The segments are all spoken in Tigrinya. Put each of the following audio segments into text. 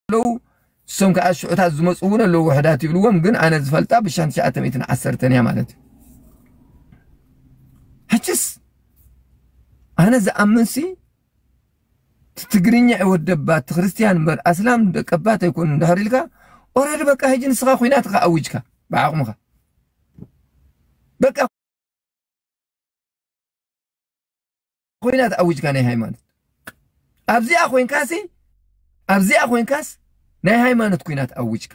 ኣለዉ እሶም ከዓ ሽዑታት ዝመፁ እውን ኣለዉ ውሕዳት ይብልዎም ግን ኣነ ዝፈልጣ ብሻን ትሽዓተ ሚእትን ዓሰርተን እያ ማለት እዩ ሕችስ ኣነ ዝኣምንሲ እቲ ትግርኛ ይወደባ እቲ ክርስትያን እምበር ኣስላም ደቀባት ኣይኮኑ እንድሕር ኢልካ ኦረዲ በቃ ሕጂ ንስኻ ኩናት ኻ ኣዊጅካ ብዓቕምኻ በቃ ኹናት ኣዊጅካ ናይ ሃይማኖት ኣብዚኣ ኮይንካሲ ኣብዚኣ ኮይንካስ ናይ ሃይማኖት ኩናት ኣዊጅካ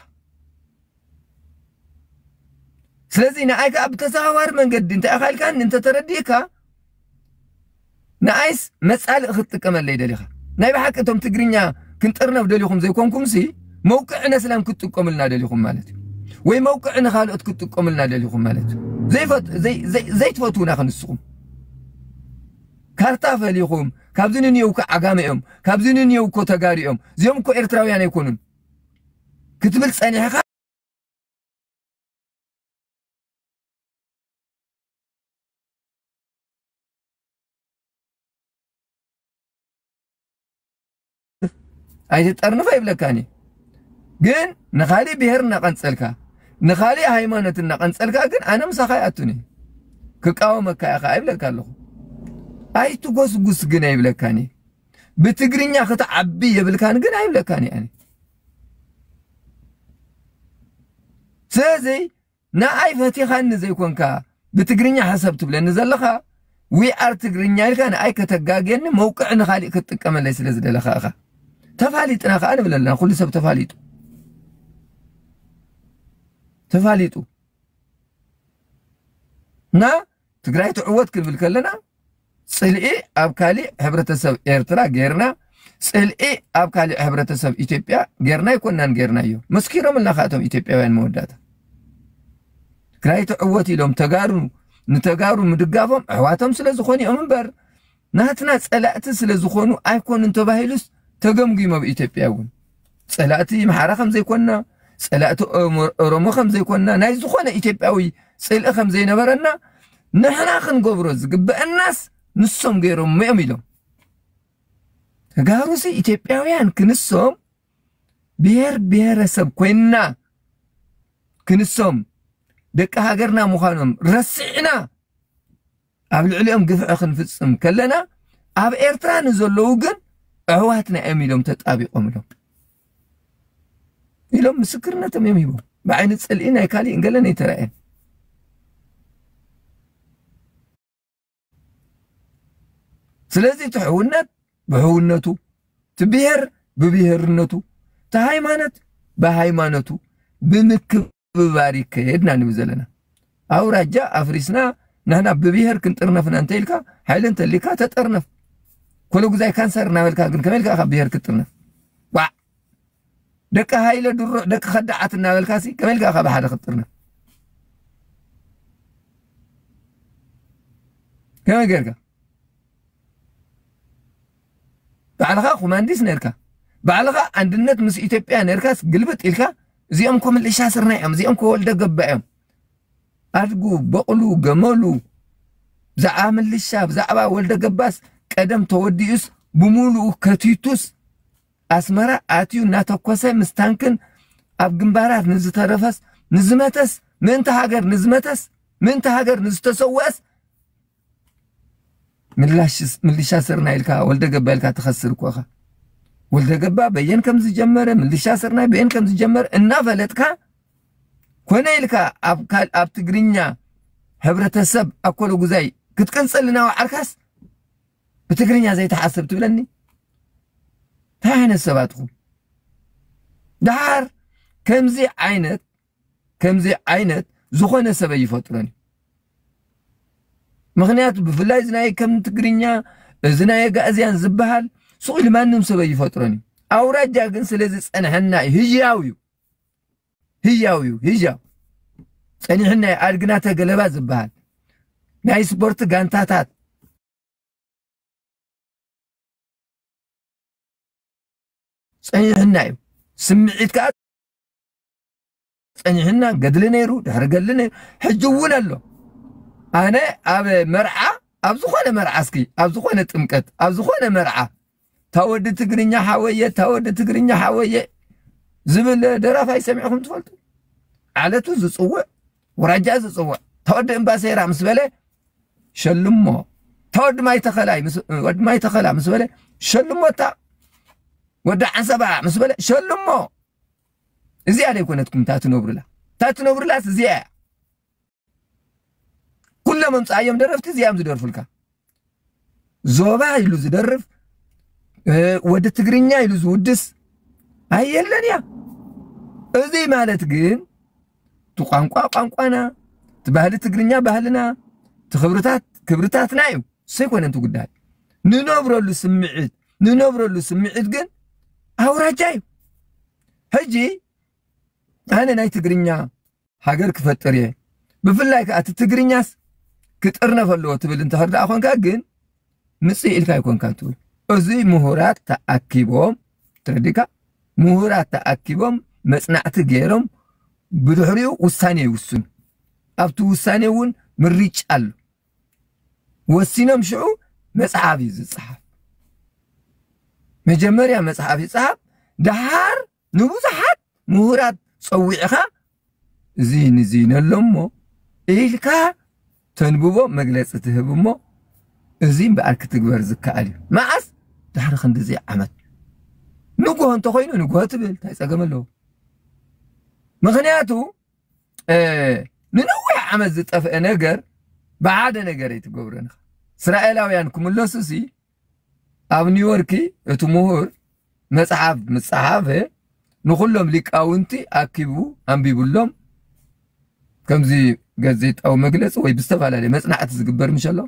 ስለዚ ንኣይ ከዓ ብተዘዋዋሪ መንገዲ እንታይ ኢኻ ኢልካኒ እንተተረዲእካ ንኣይስ መፃልእ ክትጥቀመለይ ደሊኻ ናይ ብሓቂ እቶም ትግርኛ ክንጥርነፍ ደሊኹም ዘይኮንኩምሲ መውቅዒ ነስላም ክትጥቀሙልና ደሊኹም ማለት እዩ ወይ መውቅዒ ንካልኦት ክትጥቀሙልና ደሊኹም ማለት እዩ ዘይትፈትዉና ክንስኹም ካርታ ፈሊኹም ካብዚ ንንየው እኮ ዓጋመ እዮም ካብዚ ንንየው እኮ ተጋሩ እዮም እዚኦም እኮ ኤርትራውያን ኣይኮኑን ክትብል ጸኒሕኻ ኣይትጠርንፍ ኣይብለካን እዩ ግን ንኻሊእ ብሄር እናቐንፀልካ ንኻሊእ ሃይማኖት እናቐንፀልካ ግን ኣነ ምሳኻ ይኣቱኒ ክቃወመካ ኢኻ ኣይብለካ ኣለኹ ኣይትጎስጉስ ግን ኣይብለካን እዩ ብትግርኛ ክትዓቢ የብልካን ግን ኣይብለካን እዩ ስለዚ ንኣይ ፈቲኻኒ ዘይኮንካ ብትግርኛ ሕሰብ ትብለኒ ዘለኻ we are ትግርኛ ኢልካ ንኣይ ከተጋግየኒ መውቅዒ ንኻሊእ ክትጥቀመለይ ስለ ዝደለኻ ኢኻ ተፋሊጥና ከዓ ንብል ኣለና ኩሉ ሰብ ተፋሊጡ ተፋሊጡ እና ትግራይ ትዕወት ክንብል ከለና ጽልኢ ኣብ ካሊእ ሕብረተሰብ ኤርትራ ጌርና ጽልኢ ኣብ ካሊእ ሕብረተሰብ ኢትዮጵያ ጌርና ኣይኮናን ጌርናዮ መስኪሮምልና ከዓ እቶም ኢትዮጵያውያን መወዳእታ ትግራይ ትዕወት ኢሎም ተጋሩ ንተጋሩ ምድጋፎም ኣሕዋቶም ስለ ዝኾኑ እዮም እምበር ናትና ጸላእቲ ስለ ዝኾኑ ኣይኮኑን ተባሂሉስ ተገምጊሙ ኣብ ኢትዮጵያ እውን ጸላእቲ ኣምሓራ ከም ዘይኮንና ጸላእቲ ኦሮሞ ከም ዘይኮንና ናይ ዝኾነ ኢትዮጵያዊ ጽልኢ ከም ዘይነበረና ንሕና ክንገብሮ ዝግበአናስ ንሶም ገይሮም እዮም ኢሎም ተጋሩሲ ኢትዮጵያውያን ክንሶም ብሔር ብሔረሰብ ኮይንና ክንሶም ደቂ ሃገርና ምዃኖም ረሲዕና ኣብ ልዕሊኦም ግፍዒ ክንፍጽም ከለና ኣብ ኤርትራ ንዘለዉ ግን ኣሕዋትና እዮም ኢሎም ተጣቢቆም ኢሎም ኢሎም ምስክርነቶም እዮም ሂቦም ብዓይኒ ጽልኢ ናይ ካሊእን ገለን ኣይተረኣየን ስለዚ እቲ ሕውነት ብሕውነቱ እቲ ብሄር ብብሄርነቱ እቲ ሃይማኖት ብሃይማኖቱ ብምክብ ምክብባር ይከየድ ኢና ንብል ዘለና ኣውራጃ ኣፍሪስና ንሕና ብብሄር ክንጥርነፍ ኢና እንተኢልካ ሓይሊ እንተሊካ ተጠርነፍ ኩሉ ግዛይ ካንሰር እናበልካ ግን ከመይ ኢልካ ካብ ብሄር ክትጥርነፍ ዋዕ ደቂ ሃይለ ድሩዕ ደቂ ከዳዓት እናበልካ ሲ ከመይ ኢልካ ካብ ሓደ ክትጥርነፍ ከመይ ጌርካ ባዕልኻ ኮማንዲስ ነርካ ባዕልኻ ኣንድነት ምስ ኢትዮጵያ ነርካስ ግልብጥ ኢልካ እዚኦም ኮ ምልሻ ስርና እዮም እዚኦም ኮ ወልደ ገባ እዮም ኣድጉ በቕሉ ገመሉ ብዛዕባ ምልሻ ብዛዕባ ወልደ ገባስ ቀደም ተወዲኡስ ብምሉኡ ከቲቱስ ኣስመራ ኣትዩ እናተኮሰ ምስ ታንክን ኣብ ግንባራት ንዝተረፈስ ንዝመተስ ምእንቲ ሃገር ንዝመተስ ምእንቲ ሃገር ንዝተሰወአስ ምልሻ ስርናይ ኢልካ ወልደገባ ኢልካ ትኸስር እኮ ኢኻ ወልደገባ በየን ከም ዝጀመረ ምልሻ ስርናይ በየን ከም ዝጀመረ እናፈለጥካ ኮነ ኢልካ ኣብ ትግርኛ ሕብረተሰብ ኣኮሎ ጉዛይ ክትቅንፅልና ወዓርካስ ብትግርኛ ዘይተሓስብ ትብለኒ እንታይ ዓይነት ሰባት ኢኹም ደሓር ከምዚ ዓይነት ከምዚ ዓይነት ዝኾነ ሰብ ኣይፈጥሮን እዩ ምክንያቱ ብፍላይ እዚ ናይ ከም ትግርኛ እዚ ናይ ኣጋእዝያን ዝበሃል ስቕ ኢሉ ማንም ሰብ ኣይፈጥሮን እዩ ኣውራጃ ግን ስለዚ ጸንሐና እዩ ህያው እዩ ህያው እዩ ህያው ጸኒሕና እዩ ኣድግና ተገለባ ዝበሃል ናይ ስፖርት ጋንታታት ጸኒሕና እዩ ስምዒት ከዓ ጸኒሕና ገድሊ ነይሩ ድሕሪ ገድሊ ነይሩ ሕጂ እውን ኣሎ ኣነ ኣብ መርዓ ኣብ ዝኾነ መርዓ እስኪ ኣብ ዝኾነ ጥምቀት ኣብ ዝኾነ መርዓ ታወዲ ትግርኛ ሓወየ ታወዲ ትግርኛ ሓወየ ዝብል ደራፋይ ሰሚዕኹም ትፈልጡ ዓለቱ ዝፅውዕ ወራጃ ዝፅውዕ ታወዲ እምባሴራ ምስ በለ ሸልሞ ታወዲ ማይ ተኸላይ ወዲ ማይ ተኸላ ምስ በለ ሸልሞታ ወዲ ዓንሰባ ምስ በለ ሸልሞ እዚኣ ዶ ኣይኮነትኩም እታ ትነብሩላ እታ ትነብሩላስ እዚኣ እያ ኩሎም ኣምፅኣዮም ደረፍቲ እዚኣም ዝደርፉልካ ዞባ ኢሉ ዝደርፍ ወዲ ትግርኛ ኢሉ ዝውድስ ኣየለን እያ እዚ ማለት ግን እቲ ቋንቋ ቋንቋና እቲ ባህሊ ትግርኛ ባህልና እቲ ክብርታት ክብርታትና እዩ ሰይኮነ እቲ ጉዳይ ንነብረሉ ስምዒት ንነብረሉ ስምዒት ግን ኣውራጃ እዩ ሕጂ ኣነ ናይ ትግርኛ ሃገር ክፈጥር እየ ብፍላይ ከዓ እቲ ትግርኛስ ክጥርነፍ ኣለዎ ትብል እንተኸር ደኣ ኮንካ ግን ምፅእ ኢልካ ይኮንካ ትብል እዚ ምሁራት ተኣኪቦም ትረዲካ ምሁራት ተኣኪቦም መፅናዕቲ ገይሮም ብድሕሪኡ ውሳኔ ይውስኑ ኣብቲ ውሳኔ እውን ምሪጭ ኣሎ ወሲኖም ሽዑ መጽሓፍ እዩ ዝጸሓፍ መጀመርያ መጽሓፍ ይጸሓፍ ደሓር ንብዙሓት ምሁራት ጸዊዕኻ እዚ ንዚ ነሎ እሞ ኢልካ ተንብቦ መግለጺ ትህብ እሞ እዚ እምበኣር ክትግበር ዝከኣል እዩ መዓስ ድሕሪ ክንዲዚ ዓመት ንግሆ እንተኮይኑ ንግሆ ትብል እንታይ ጸገም ኣለዎ ምክንያቱ ንነዊሕ ዓመት ዝጠፍአ ነገር ብሓደ ነገር ኣይትገብሮን ኢኻ እስራኤላውያን ክምለሱ ሲ ኣብ ኒውዮርክ እቲ ምሁር መጽሓፍ ምጽሓፈ ንኹሎም ሊቃውንቲ ኣኪቡ ኣንቢብሎም ከምዚ ጋዜጣዊ መግለፂ ወይ ብዝተፈላለየ መፅናዕቲ ዝግበር ምሸሎ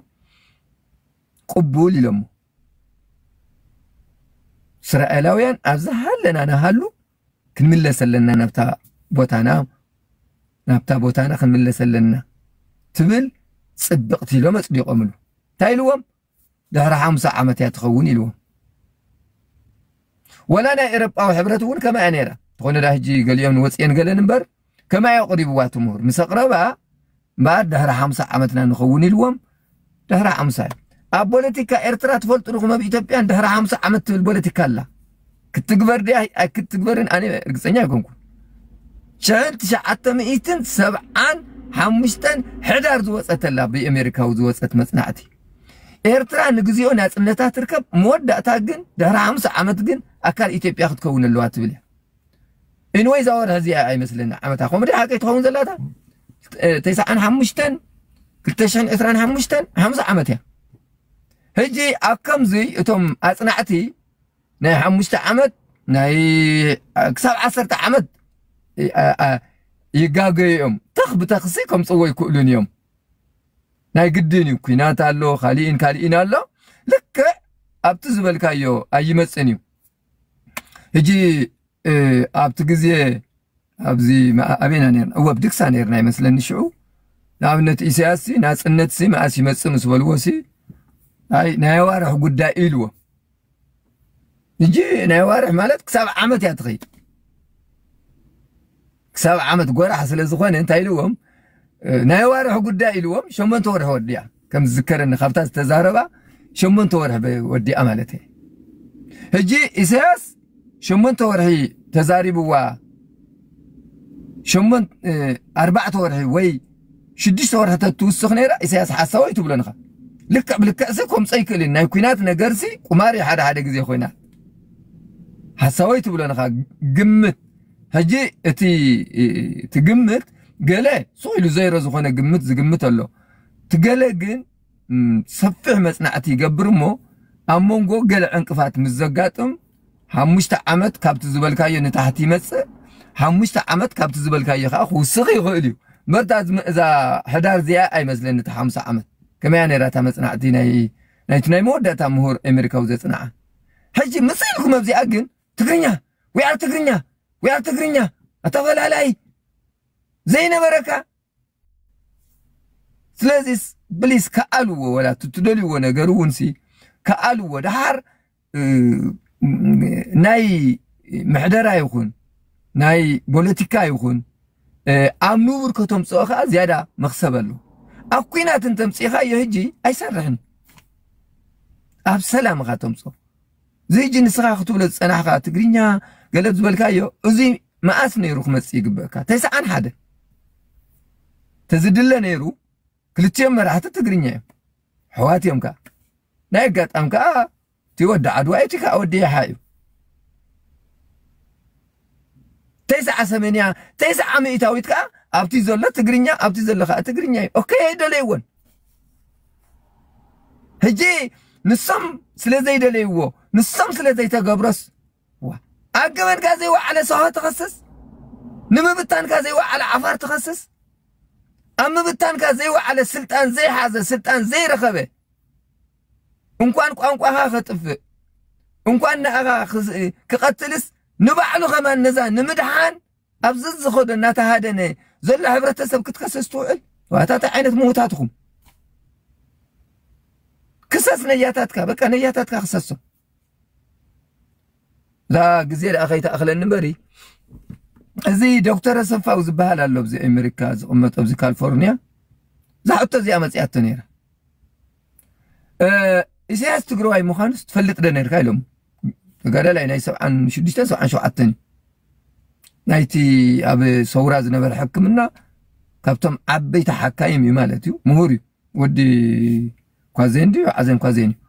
ቅቡል ኢሎሞ እስራኤላውያን ኣብዝሃለና ንሃሉ ክንምለስ ኣለና ናብታ ቦታና ናብታ ቦታና ክንምለስ ኣለና ትብል ፅብቕቲ ኢሎም ኣፅዲቖምሉ እንታይ ኢልዎም ድሕሪ ሓምሳ ዓመት እያ ትኸውን ኢልዎም ወላ ናይ ኤሮጳዊ ሕብረት እውን ከምኣ ነይራ ተኾነ ዳ ሕጂ ገሊኦም ንወፅኤን ገለን እምበር ከማይ ኣቕሪብዋ እቲ ምሁር ምስ ኣቕረባ እምበኣር ድሕሪ ሓምሳ ዓመትና ንኸውን ኢልዎም ድሕሪ ሓምሳ እዩ ኣብ ፖለቲካ ኤርትራ ትፈልጡ ድኹም ኣብ ኢትዮጵያን ድሕሪ ሓምሳ ዓመት ትብል ፖለቲካ ኣላ ክትግበር ድያ ኣይክትግበርን ኣነ ርግፀኛ ኣይኮንኩን ሽሕን ትሽዓተ ሚእትን ሰብዓን ሓሙሽተን ሕዳር ዝወፀተላ ብኣሜሪካዊ ዝወፀት መፅናዕቲ ኤርትራ ንግዚኦ ናፅነታ ትርከብ መወዳእታ ግን ድሕሪ ሓምሳ ዓመት ግን ኣካል ኢትዮጵያ ክትከውን ኣለዋ ትብል እያ ኤንወይ እዛ ወርሒ እዚኣ ኣይመስለኒ ዓመታ ከምኡ ድያ ሓቀይ ትኸውን ዘላ እታ ተስዓን ሓሙሽተን ክልተ ሽሕን ዕስራን ሓሙሽተን ሓምሳ ዓመት እያ ሕጂ ኣብ ከምዚ እቶም ኣጽናዕቲ ናይ ሓሙሽተ ዓመት ናይ ክሳብ ዓሰርተ ዓመት ይጋገዩ እዮም ተኽ ብተኽሲ ከምፅዎ ይክእሉን እዮም ናይ ግድን እዩ ኩናት ኣሎ ካሊእን ካሊእን ኣሎ ልክዕ ኣብቲ ዝበልካዮ ኣይመፅን እዩ ሕጂ ኣብቲ ግዜ ኣብዚ ኣበና ነርና እወ ብድግሳ ነርና ይመስለኒ ሽዑ ንኣብነት ኢሳያስ ናፅነት ሲ መኣስ ይመፅእ ምስ በልዎ ሲ ኣይ ናይ ኣዋርሕ ጉዳይ ኢልዎ ሕጂ ናይ ኣዋርሕ ማለት ክሳብ ዓመት እያ ትኸይድ ክሳብ ዓመት ጎራሕ ስለ ዝኾነ እንታይ ኢልዎም ናይ ኣዋርሕ ጉዳይ ኢልዎም ሸሞንተ ወርሒ ወዲያ ከም ዝዝከረኒ ካብታ ዝተዛረባ ሸሞንተ ወርሒ ወዲኣ ማለት እየ ሕጂ ኢሳያስ ሸሞንተ ወርሒ ተዛሪብዋ ሸሞን ኣርባዕተ ወርሒ ወይ ሽዱሽተ ወርሒ ተትውስኽ ነይራ ኢሳያስ ሓሳወይ ትብሎ ንኻ ልክዕ ብልክዕሲ ከምፀ ይክእል እዩ ናይ ኩናት ነገርሲ ቁማር እዩ ሓደ ሓደ ግዜ ኮይና ሓሳወይ ትብሎ ንኻ ግምት ሕጂ እቲ እቲ ግምት ገለ ሱቕ ኢሉ ዘይሮ ዝኾነ ግምት ዝግምት ኣሎ እቲ ገለ ግን ሰፊሕ መጽናዕቲ ይገብር እሞ ኣብ መንጎ ገለ ዕንቅፋት ምስ ዘጋጥም ሓሙሽተ ዓመት ካብቲ ዝበልካዮ ንታሕቲ ይመጽእ ሓሙሽተ ዓመት ካብቲ ዝበልካዮ ከዓ ክውስኽ ይኽእል እዩ መርታ እዛ ሕዳር እዚኣ ኣይመስለኒ እቲ ሓምሳ ዓመት ከመያ ነይራ እታ መጽናዕቲ ናይ ናይቲ ናይ መወዳእታ ምሁር ኣሜሪካዊ ዘጽንዓ ሕጂ ምስ ኢልኩም ኣብዚኣ ግን ትግርኛ ዊኣር ትግርኛ ዊኣር ትግርኛ ኣተፈላላይ ዘይነበረካ ስለዚ ብሊስ ከኣልዎ ወላ ትደልይዎ ነገር እውን ሲ ከኣልዎ ደሓር ናይ ምሕደራ ይኹን ናይ ፖለቲካ ይኹን ኣብ ንቡር ከተምፅኦ ከዓ ዝያዳ መክሰብ ኣሎ ኣብ ኩናት እንተምፅኢኻዮ ህጂ ኣይሰርሕን ኣብ ሰላም ኢኻ ተምፅኦ ዘይጂ ንስኻ ክትብሎ ዝጸናሕካ ትግርኛ ገለብ ዝበልካዮ እዚ መኣስ ነይሩ ክመጽእ ይግበእካ ተስዓን ሓደ ተዝድለ ነይሩ ክልቲኦም መራሕቲ ትግርኛ እዮም ሕዋት እዮም ከዓ ናይ ኣጋጣም ከዓ እቲ ወዲ ዓድዋ እቲ ከዓ ወዲ ይሓ እዩ ተስዓ ሰሜንያ ተስዓ ሚእታዊት ከዓ ኣብቲ ዘሎ ትግርኛ ኣብቲ ዘሎ ከዓ ትግርኛ እዩ ኦኬ ኣይደለይዎን ሕጂ ንሶም ስለ ዘይደለይዎ ንሶም ስለ ዘይተገብረስ ኣብ ገበንካ ዘይወዓለ ሰሆ ትኸስስ ንምብታንካ ዘይወዓለ ዓፋር ትኸስስ ኣብ ምብታንካ ዘይወዓለ ስልጣን ዘይሓዘ ስልጣን ዘይረኸበ እንኳን ቋንቋኻ ከጥፍእ እንኳን ንኣኻ ክቐትልስ ንባዕሉ ኸማን ነዛ ንምድሓን ኣብ ዘዝኸዶ እናተሃደነ ዘሎ ሕብረተሰብ ክትከሰስ ትውዕል ዋታታ ዓይነት ምውታት ኢኹም ክሰስ ነያታትካ በቃ ነያታትካ ክሰሶ ላ ግዜ ደኣ ከይተኣኽለኒ እምበሪ እዚ ዶክተር ኣሰፋው ዝበሃል ኣሎ ኣብዚ ኣሜሪካ ዝቕመጦ ኣብዚ ካሊፎርኒያ እዛ ሕቶ እዚኣ መፅያቶ ነይራ ኢሳያስ ትግራዋይ ምዃኑስ ትፈልጥ ዶ ነርካ ኢሎም ተጋዳላይ ናይ ሰብዓን ሽዱሽተን ሰብዓን ሸውዓተን ናይቲ ኣብ ሰውራ ዝነበረ ሕክምና ካብቶም ዓበይቲ ሓካይም እዩ ማለት እዩ ምሁር እዩ ወዲ ኳዜን ድዩ ዓዘን ኳዜን እዩ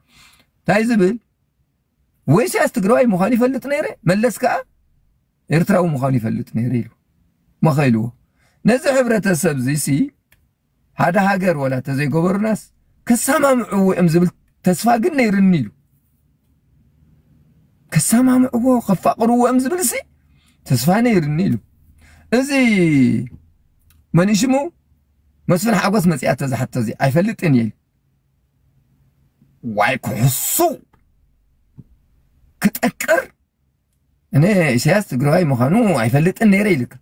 እንታይ ዝብል ወይ ኢሳያስ ትግራዋይ ምዃኑ ይፈልጥ ነይረ መለስ ከዓ ኤርትራዊ ምዃኑ ይፈልጥ ነይረ ኢሉ መኸኢልዎ ነዚ ሕብረተሰብ እዚ ሓደ ሃገር ወላ ተዘይገበሩናስ ከሳማምዕዎ እዮም ዝብል ተስፋ ግን ነይርኒ ኢሉ ከሳማምዕዎ ከፋቅርዎ እዮም ዝብል ሲ ተስፋ ነይርኒ ኢሉ እዚ መን ሽሙ መስፍን ሓጎስ መፅኣ ተዝሓቶ እዚ ኣይፈልጥን እየ ዋይ ክሕሱ ክጠቅር እኔ ኢሳያስ ትግራዋይ ምዃኑ ኣይፈልጥን ነይረ ይልካ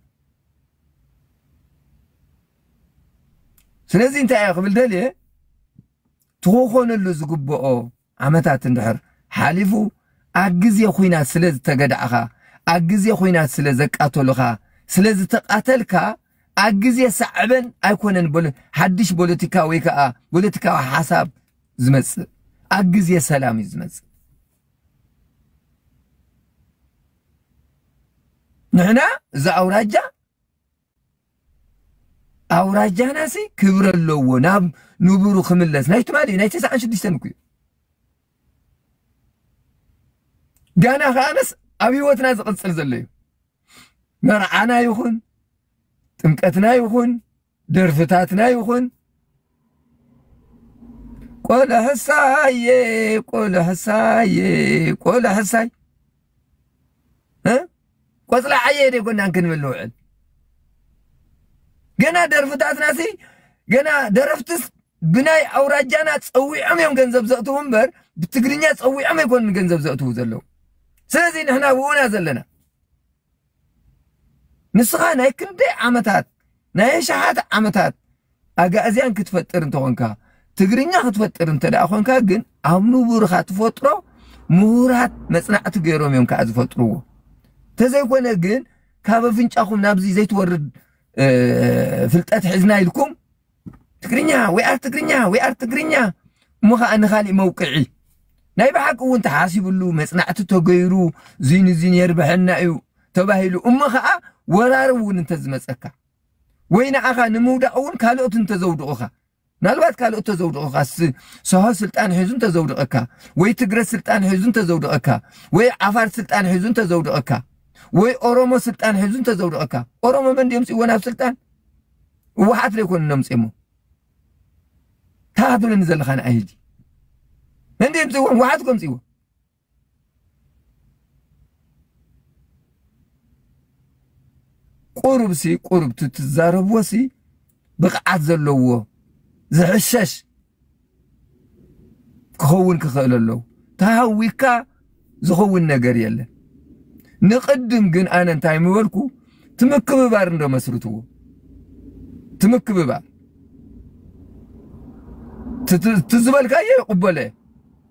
ስለዚ እንታይ እየ ክብል ደልየ ትኾኾነሉ ዝግብኦ ዓመታት እንድሕር ሓሊፉ ኣብ ግዜ ኩናት ስለ ዝተገዳዕኻ ኣብ ግዜ ኩናት ስለ ዘቃተሉኻ ስለ ዝተቃተልካ ኣብ ግዜ ሳዕበን ኣይኮነን ሓድሽ ፖለቲካ ወይ ከዓ ፖለቲካዊ ሓሳብ ዝመፅእ ኣብ ግዜ ሰላም እዩ ዝመፅእ ንሕና እዚ ኣውራጃ ኣውራጃናሲ ክብረ ኣለዎ ናብ ንቡሩ ክምለስ ናይ ትማሊ ናይ ተስዓን ሽዱሽተን እኩ እዩ ጋና ከኣነስ ኣብ ህይወትና ዝቕፅል ዘሎ እዩ መርዓና ይኹን ጥምቀትና ይኹን ደርፍታትና ይኹን ቆልሕሳዬ ቆልሕሳዬ ቆልሕሳይ ቆፅላ ዓየ ደ ጎናን ክንብል ንውዕል ገና ደርፍታትናሲ ገና ደረፍትስ ብናይ ኣውራጃና ፀዊዖም እዮም ገንዘብ ዘእትዉ እምበር ብትግርኛ ፀዊዖም ኣይኮኑን ገንዘብ ዘእትዉ ዘለዉ ስለዚ ንሕና ብኡና ዘለና ንስኻ ናይ ክንደይ ዓመታት ናይ ኣሽሓት ዓመታት ኣጋእዝያን ክትፈጥር እንተኾንካ ትግርኛ ክትፈጥር እንተ ደኣ ኮንካ ግን ኣብ ንቡርኻ ትፈጥሮ ምሁራት መጽናዕቲ ገይሮም እዮም ከዓ ዝፈጥርዎ ተዘይኮነ ግን ካብ ኣፍንጫኹም ናብዚ ዘይትወርድ ፍልጠት ሒዝና ኢልኩም ትግርኛ ዊኣር ትግርኛ ዊኣር ትግርኛ እሞ ኸኣ ንኻሊእ መውቅዒ ናይ ብሓቂ እውን ተሓሲብሉ መፅናዕቲ ተገይሩ እዙይ ንዙይ የርብሐና እዩ ተባሂሉ እሞ ኸኣ ወራሪ እውን እንተዝመፀካ ወይ ንዓኻ ንምውዳቕ እውን ካልኦት እንተዘውድቑኻ ምናልባት ካልኦት ተዘውድቑካ ሰሆ ስልጣን ሒዙ እንተዘውድቐካ ወይ ትግረ ስልጣን ሒዙ እንተዘውድቐካ ወይ ዓፋር ስልጣን ሒዙ እንተዘውድቐካ ወይ ኦሮሞ ስልጣን ሒዙ እንተዘውድቐካ ኦሮሞ መን ድዮም ፅወን ኣብ ስልጣን ህወሓት ዶ ይኮኑ ነምፅዮሞ ታትብለኒ ዘለካ ንዓይ ሕጂ መንዲ የምፅዎ ህወሓት ከምፅዎ ቁሩብ ሲ ቁሩብ ትትዛረብዎ ሲ ብቕዓት ዘለዎ ዝሕሸሽ ክኸውን ክኽእል ኣለዎ ተሃዊካ ዝኸውን ነገር የለን። ንቅድም ግን ኣነ እንታይ ምበልኩ ትምክብባር እንዶ መስርትዎ ትምክብባር ትዝበልካዮ ይቕበሎ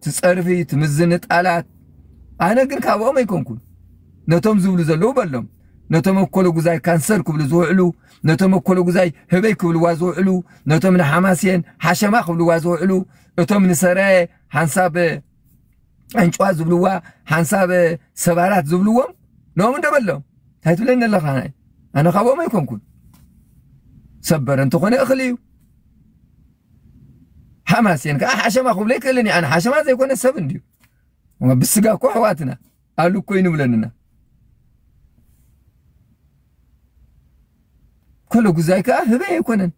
ትጸርፊ ትምዝንጣላት ኣነ ግን ካብኦም ኣይኮንኩን ነቶም ዝብሉ ዘለዉ በሎም ነቶም ኣኮለጉዛይ ካንሰር ክብሉ ዝውዕሉ ነቶም ኣኮለጉዛይ ህበይ ክብልዋ ዝውዕሉ ነቶም ንሓማስየን ሓሸማ ክብልዋ ዝውዕሉ እቶም ንሰራየ ሓንሳብ ዕንጭዋ ዝብልዋ ሓንሳብ ሰባራት ዝብልዎም ንኦም እንደበሎም እንታይ ትብለኒ ኣለኻ ናይ ኣነ ካብኦም ኣይኮንኩን ሰበር እንተኾነ እኽሊ እዩ ሓማሴን ከዓ ሓሸማ ክብሎ ይክእልን እዩ። ኣነ ሓሸማ ዘይኮነ ሰብ እንድዩ ብስጋ እኮ ኣሕዋትና ኣሉ እኮ ይንብለንና ከሎ ጉዛይ ከዓ ህበይ ኣይኮነን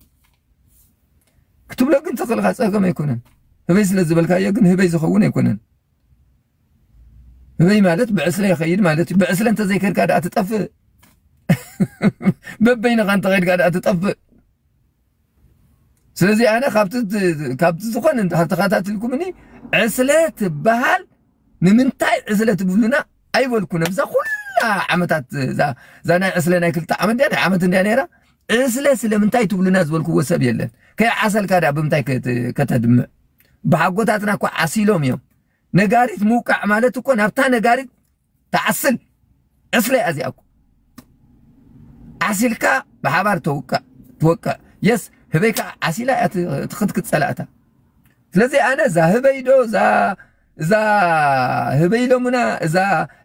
ክትብሎ ግን ተኽእልካ ፀገም ኣይኮነን። ህበይ ስለ ዝበልካዮ ግን ህበይ ዝኸውን ኣይኮነን። ህበይ ማለት ብዕስለ ይኸይድ ማለት እዩ። ብዕስለ እንተዘይከድካ ደኣ ትጠፍእ፣ በበይንኻ እንተኸድካ ደኣ ትጠፍእ። ስለዚ ኣነ ካብቲ ካብቲ ዝኾነ ተኸታትልኩምኒ ዕስለ ትበሃል ንምንታይ ዕስለ ትብሉና ኣይበልኩን ኣብዛ ኩላ ዓመታት እዛ ናይ ዕስለ ናይ ክልተ ዓመት ድያ ናይ ዓመት እንድያ ነይራ ዕስለ ስለምንታይ ትብሉና ዝበልክዎ ሰብ የለን ከይዓሰልካ ድያ ብምንታይ ከተድምዕ ብሓጎታትና እኮ ዓሲሎም እዮም ነጋሪት ምውቃዕ ማለት እኮ ናብታ ነጋሪት ትዓስል ዕስለ እያ እዚኣ እኮ ዓሲልካ ብሓባር ተውቅዕ ትወቅዕ የስ ህበይ ከዓ ዓሲላ እያ ትክትክት ፀላእታ ስለዚ ኣነ እዛ ህበይ ዶ እዛ እዛ ህበይ ኢሎሙና እዛ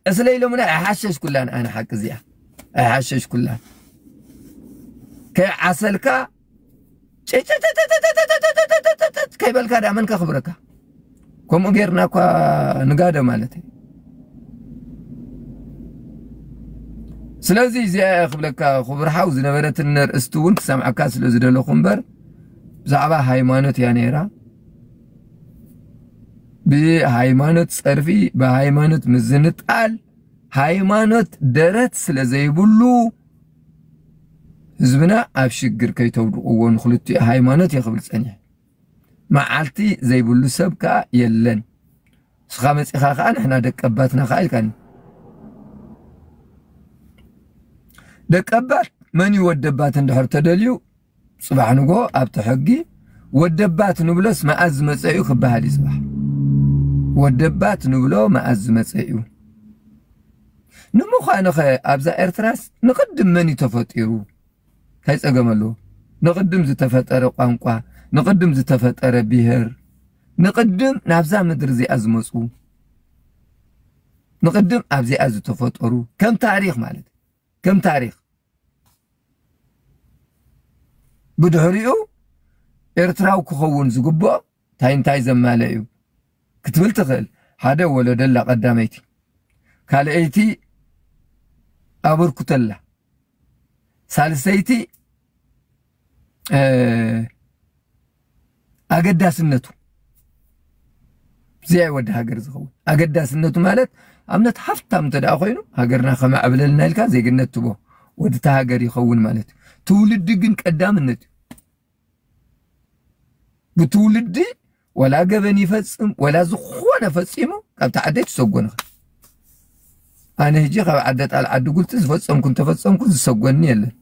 ዕስለ ኢሎሙና ኣይሓሸሽኩላን ኣነ ሓቂ እዚኣ ኣይሓሸሽኩላን ከይዓሰልካ ጭጭጭ ስለዚ እዚኣ እያ ክብለካ ክቡር ሓው ዝነበረትን ነርእስቲ እውን ክሰምዓካ ስለ ዝደለኹ እምበር ብዛዕባ ሃይማኖት እያ ነይራ ብሃይማኖት ጸርፊ ብሃይማኖት ምዝንጣል ሃይማኖት ደረት ስለ ዘይብሉ ህዝብና ኣብ ሽግር ከይተውድቕዎ ንክልቲኡ ሃይማኖት እየ ክብል ጸኒሐ መዓልቲ ዘይብሉ ሰብ ከዓ የለን ንስኻ መፂኻ ከዓ ንሕና ደቀባትና ከዓ ኢልካኒ ደቀባት መን ይወደባት እንድሕር ተደልዩ ጽባሕ ንጎ ኣብቲ ሕጊ ወደባት ንብሎስ መኣዝ ዝመጸ እዩ ክበሃል እዩ ጽባሕ ወደባት ንብሎ መኣዝ ዝመጸ እዩ ንምዃኑ ኸ ኣብዛ ኤርትራስ ንቕድም መን እዩ ተፈጢሩ እንታይ ጸገም ኣለዎ ንቕድም ዝተፈጠረ ቋንቋ ንቕድም ዝተፈጠረ ብሄር ንቕድም ናብዛ ምድሪ እዚኣ ዝመፁ ንቕድም ኣብዚኣ ዝተፈጠሩ ከም ታሪክ ማለት ከም ታሪኽ ብድሕሪኡ ኤርትራዊ ክኸውን ዝግብኦ እንታይ እንታይ ዘማለ እዩ ክትብል ትኽእል ሓደ ወለደላ ቀዳመይቲ ካልኣይቲ ኣበርኩተላ ሳልሰይቲ ኣገዳስነቱ እዚኣ ወዲ ሃገር ዝኸውን ኣገዳስነቱ ማለት ኣብነት ሃፍታም እንተ ኮይኑ ሃገርና ከማዕብለልና ኢልካ ዜግነት ትቦ ወድቲ ሃገር ይኸውን ማለት እዩ ትውልዲ ግን ቀዳምነት እዩ ብትውልዲ ወላ ገበን ይፈጽም ወላ ዝኾነ ፈጺሙ ካብቲ ዓደይ ትሰጎን ኢኻ ኣነ ህጂ ካብ ዓደ ጣል ዓዲ ጉልቲ ዝፈጸምኩ እንተፈጸምኩ ዝሰጎኒ የለን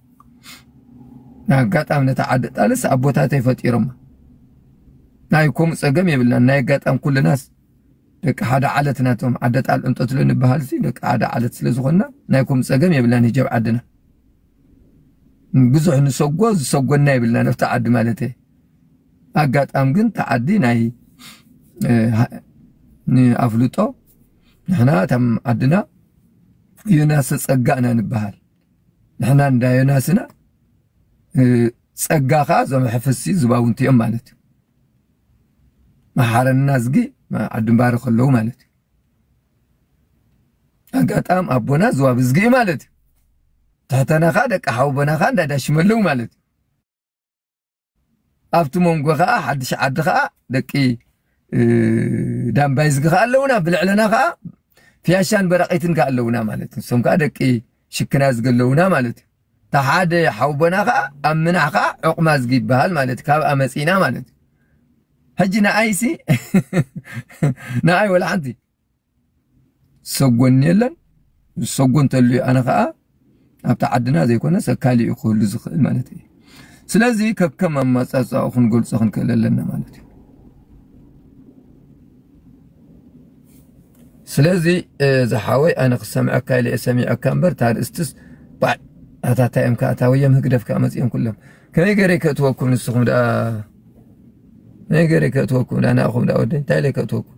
ንኣጋጣሚ ነቲ ዓዲ ጣልስ ኣቦታተይ ፈጢሮማ ናይ ከምኡ ጸገም የብልናን ናይ ኣጋጣሚ ኩልናስ ደቂ ሓደ ዓለት ናቶም ዓደ ጣል እንጠትሎ ንበሃል ሲ ደቂ ሓደ ዓለት ስለ ዝኾንና ናይ ከምኡ ጸገም የብልናን ህጀብ ዓድና ብዙሕ ንሰጎ ዝሰጎና የብልናን ኣብቲ ዓዲ ማለት እየ ኣጋጣም ግን እታ ዓዲ ናይ ንኣፍልጦ ንሕና እታም ዓድና ዮናሰ ጸጋ ኢና ንበሃል ንሕና እንዳ ዮናስ ኢና ጸጋ ከዓ እዞም ሕፍሲ ዝባውንቲ እዮም ማለት እዩ መሓረና ዝጊ ዓድምባሪ ከለዉ ማለት እዩ ኣጋጣም ኣቦና ዝዋብ ዝጊ ማለት እዩ ትሕተና ከዓ ደቂ ሓውቦና ከዓ እንዳዳሽመለዉ ማለት እዩ ኣብቲ መንጎ ከዓ ሓድሽ ዓዲ ከዓ ደቂ ዳምባይዝጊ ከዓ ኣለውና ብልዕለና ከዓ ፍያሻን በራቂትን ከዓ ኣለውና ማለት እዩ እሶም ከዓ ደቂ ሽክና ዝጊ ኣለውና ማለት እዩ እታ ሓደ ሓውቦና ከዓ ኣብ ምናሕ ከዓ ዕቁማ ዝጊ ይበሃል ማለት እዩ ካብኣ መፂእና ማለት እዩ ሕጂ ንኣይሲ ንኣይ ወላ ሓንቲ ዝሰጎን የለን ዝሰጎ እንተልዩ ኣነ ከዓ ኣብቲ ዓድና ዘይኮነ ሰካሊ እዩ ክህሉ ዝኽእል ማለት እዩ ስለዚ ከከም ኣማፃፃኡ ክንገልፆ ክንክእል ኣለና ማለት እዩ ስለዚ ዝሓወይ ኣነ ክሰምዐካ ኢለ ሰሚዐካ እምበር እታ ርእስትስ ባዕ ኣታታ እዮም ከዓ እታ ወየም ህግደፍ ከዓ መፅኦም ኩሎም ከመይ ገይረ ከእትወኩም ንስኹም ደኣ ከመይ ገይረ ከእትወኩም ደኣ ንኣኹም ደኣ ወደይ እንታይ ኢለ ከእትወኩም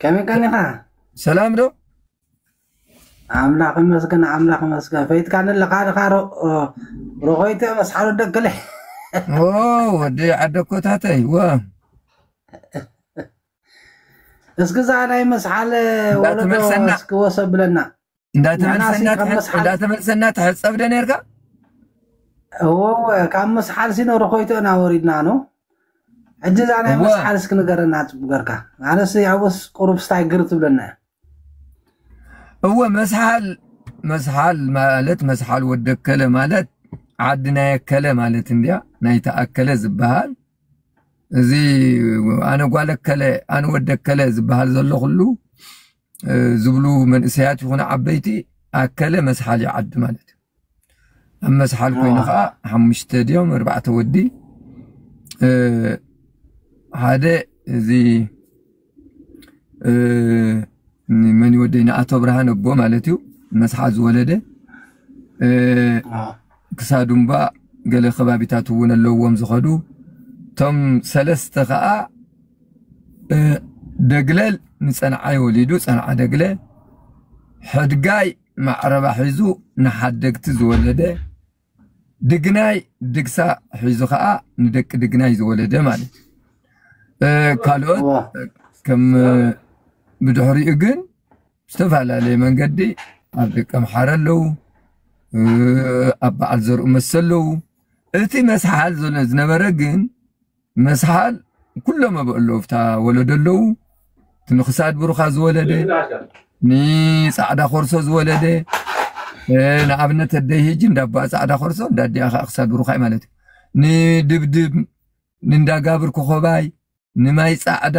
ከመይ ቀኒኻ ሰላም ዶ ኣምላኽ ይመስገን ኣምላኽ ይመስገን ፈይትካኒ ኣለኻ ድኻ ሮኾይተ መስሓሉ ደክለ ኦ ወዲ ዓደኮታተይ ወ እስኪ እዛ ናይ መስሓል ወለዶ እንዳተመልሰና። እስኪ ወሰ ብለና እንዳተመልሰና ተሐፀብደ ነርካ እወ ካብ መስሓል ሲኖ ርኮይቶ ኢና ወሪድና ነው ሕጂ እዛ ናይ መስሓል እስኪ ንገረና ፅቡ ገርካ ኣነስ ያውስ ቁሩብ ስታይ ግር ትብለና እወ መስሓል መስሓል ማለት መስሓል ወደከለ ማለት ዓዲ ናይ ኣከለ ማለት እንድያ ናይ ተኣከለ ዝበሃል እዚ ኣነ ጓለከለ ኣነ ወደከለ ዝበሃል ዘሎ ኩሉ ዝብሉ መንእሰያት ይኹኑ ዓበይቲ ኣከለ መስሓል እዩ ዓዲ ማለት እዩ ኣብ መስሓል ኮይኑ ከዓ ሓሙሽተ ድዮም ኣርባዕተ ወዲ ሓደ እዚ መን ይወደይ ንኣቶ ብርሃን ኣቦ ማለት እዩ መስሓል ዝወለደ ክሳዱ እምባ ገለ ከባቢታት እውን ኣለዎም ዝኸዱ እቶም ሰለስተ ከዓ ደግለል ንጸንዓይ ወሊዱ ጸንዓ ደግለ ሕድጋይ ማዕረባ ሒዙ ንሓደግቲ ዝወለደ ድግናይ ድግሳ ሒዙ ከዓ ንደቂ ድግናይ ዝወለደ ማለት ካልኦት ከም ብድሕሪኡ ግን ዝተፈላለየ መንገዲ ኣብ ደቂ ኣምሓረ ኣለዉ ኣብ በዓል ዘርኡ መሰ ኣለዉ እቲ መስሓል ዝነበረ ግን መስሓል ኩሎም ኣብ ኣለዉ ፍታ ወለዶ ኣለዉ እቲ ንክሳድ ብሩኻ ዝወለደ ንፃዕዳ ኮርሶ ዝወለደ ንኣብነት ኣደይ ሂጂ እንዳባኣ ፃዕዳ ኮርሶ እንዳዲኣ ከዓ ክሳድ ብሩኻይ ማለት እዩ ንድብድብ ንእንዳጋብር ኮኸባይ ንማይ ፃዕዳ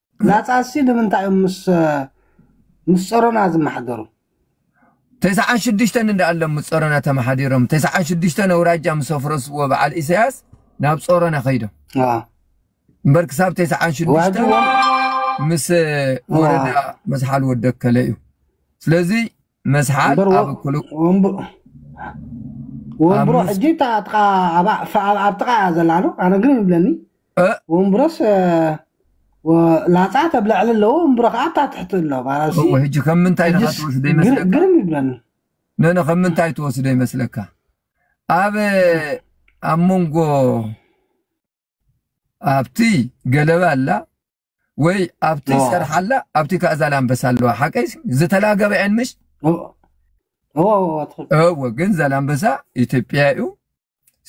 ናጻሲ ንምንታይ እዮም ምስ ምስ ጸሮና ዝመሓደሩ? ተስዓን ሽዱሽተን እንዳ ኣሎም ምስ ጸሮና ተመሓዲሮም ተስዓን ሽዱሽተን ኣውራጃ ምስ ኣፍረስዎ በዓል ኢሰያስ ናብ ጸሮና ከይዶም ኣዋ እምበር ክሳብ ተስዓን ሽዱሽተን ወህብዎም ምስ ወረዳ መስሓል ወደከለ እዩ ስለዚ መስሓቅ እምበር ኣብ ክሉ ወንብሮ ሕጂ እታ ጥቃ ኣብ ጥቃ እያ ዘላ ዶ ኣነ ግን ይብለኒ ወንብሮስ ላፃ ተብለዕሊ ኣለዎ ወንብሮ ከዓ እታ ትሕቲ ኣሎ ማለሲ ሕጂ ከም ምንታይ ንካ ትወስደ ይመስለካ ግርም ይብለኒ ነነ ከም ምንታይ ትወስደ ይመስለካ ኣብ ኣብ መንጎ ኣብቲ ገለባ ኣላ ወይ ኣብቲ ዋ ሰርሓ ኣላ ኣብቲ ከዓ ዛላምበሳ ኣለዋ ሓቀይ ዝተላገበ ዕን ምሽ እወ እወ እወ ትኽክል እወ ግን ዛላምበሳ ኢትዮጵያ እዩ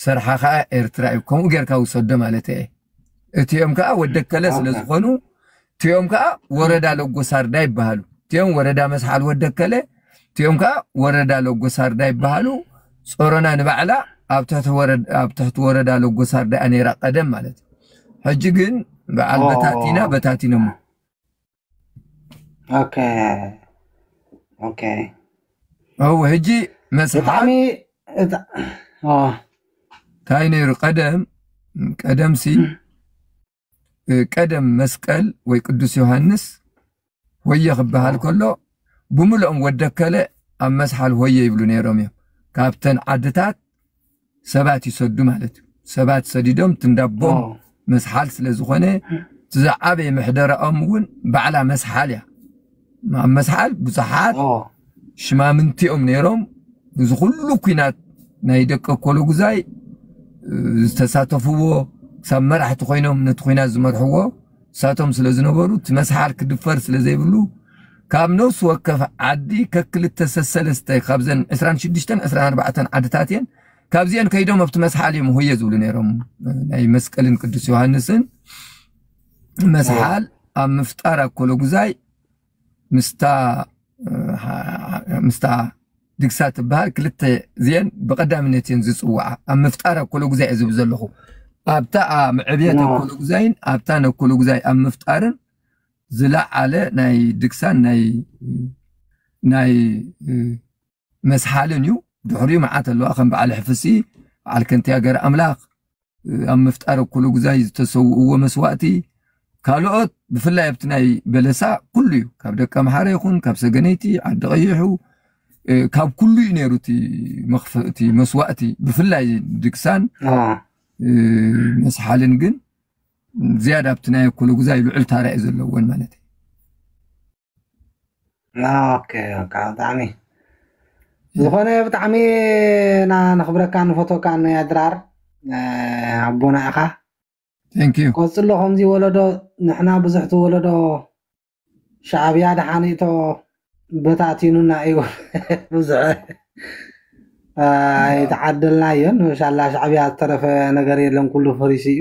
ሰርሓ ከዓ ኤርትራ እዩ ከምኡ ጌርካ ውሰዶ ማለት እየ እቲኦም ከዓ ወደከለ ስለ ዝኾኑ እቲኦም ከኣ ወረዳ ለጎሳርዳ ይበሃሉ። እቲኦም ወረዳ መስሓል ወደከለ፣ እቲኦም ከኣ ወረዳ ለጎሳርዳ ይበሃሉ። ጾሮና ንባዕላ ኣብ ትሕቲ ወረዳ ኣብ ትሕቲ ወረዳ ለጎሳርዳ እያ ነይራ ቀደም ማለት እዩ። ሕጂ ግን በዓል በታቲና በታቲኖሞ። ኦኬ ኦኬ እው ሕጂ መስሓል ብጣዕሚ እታ- ኦ፣ እንታይ ነይሩ ቀደም ቀደምሲ ቀደም መስቀል ወይ ቅዱስ ዮሃንስ ሆየ ክበሃል ከሎ ብምልኦም ወደከለ ኣብ መስሓል ሆየ ይብሉ ነይሮም እዮም ካብተን ዓድታት ሰባት ይሰዱ ማለት እዩ ሰባት ሰዲዶም ትንዳቦም መስሓል ስለ ዝኾነ ዝዓበየ ምሕደራኦም እውን ባዕላ መስሓል እያ ኣብ መስሓል ብዙሓት ሽማምንቲ እዮም ነይሮም። እዚ ኩሉ ኩናት ናይ ደቂ ኮሎጉዛይ ዝተሳተፍዎ ክሳብ መራሕቲ ኮይኖም ነቲ ኩናት ዝመርሕዎ ንሳቶም ስለ ዝነበሩ እቲ መስሓል ክድፈር ስለ ዘይብሉ ካብ ነፍሲ ወከፍ ዓዲ ከክልተ ሰሰለስተ ካብዘን 26 24 ዓድታት እየን ካብዚአን ከይዶም ኣብቲ መስሓል እዮም ሆየ ዝብሉ ነይሮም ናይ መስቀልን ቅዱስ ዮሃንስን መስሓል ኣብ ምፍጣር ኣኮሎጉዛይ ምስታ ምስታ ድግሳ ትበሃል ክልተ እዚአን ብቀዳምነት እየን ዝፅውዓ ኣብ ምፍጣር ኣኮሎጉዛይ እየ ዝብል ዘለኹ ኣብታ ኣብ ዕብየት ኣኮሎጉዛይን ኣብታ ነኮሎጉዛይ ኣብ ምፍጣርን ዝለዓለ ናይ ድግሳን ናይ ናይ መስሓልን እዩ ድሕሪኡ መዓት ኣለዋ ከም በዓል ሕፍሲ በዓል ከንቲያ ገር ኣምላኽ ኣብ ምፍጣር እኩሉ ግዛይ ዝተሰውእዎ መስዋእቲ ካልኦት ብፍላይ ኣብቲ ናይ በለሳ ኩሉ እዩ ካብ ደቂ ኣምሓረ ይኹን ካብ ሰገነይቲ ዓዲ ቀይሑ ካብ ኩሉ እዩ ነይሩ እቲ መስዋእቲ ብፍላይ ድግሳን መስሓልን ግን ዝያዳ ኣብቲ ናይ እኩሉ ግዛይ ልዑል ታራ እዩ ዘለወን ማለት እዩ ኦኬ ኦኬ ብጣዕሚ ዝኾነ ብጣዕሚ ና ነኽብረካን ንፈትወካን ኣድራር እ፣ ኣቦና ኢኻ ቴንክ ዩ ቀጽሎ ከምዚ ወለዶ ንሕና ብዙሕ እቲ ወለዶ ሻዕብያ ድሓኒእቶ በታቲኑና እዩ ብዙሕ ኣይተዓደልናዮን ሻላ ሻዕብያ ዝተረፈ ነገር የለን ኩሉ ፈሪሱ እዩ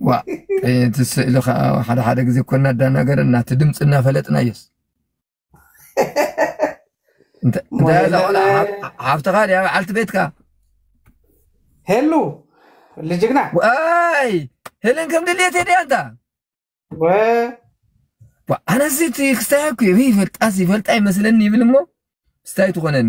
ዋእ እቲ ስእሊ ከዓ ሓደ ሓደ ግዜ እኮ እናዳናገረና እቲ ድምፂ እናፈለጥና እየስ እንተ- እንታይ እያ እዛ ሞሄለን ቆልዓ ሓፍ- ሓፍትኻ ድያ በዓልቲ ቤትካ ሄሉ ልጅግና ዋይ ህልን ከም ድልየት ድያ እንታ ወ ዋ፣ ኣነስ እቲ ክስታይ እኮ ይፈልጣስ ይፈልጣ ይመስለኒ ይብል እሞ ስታይ ትኾነኒ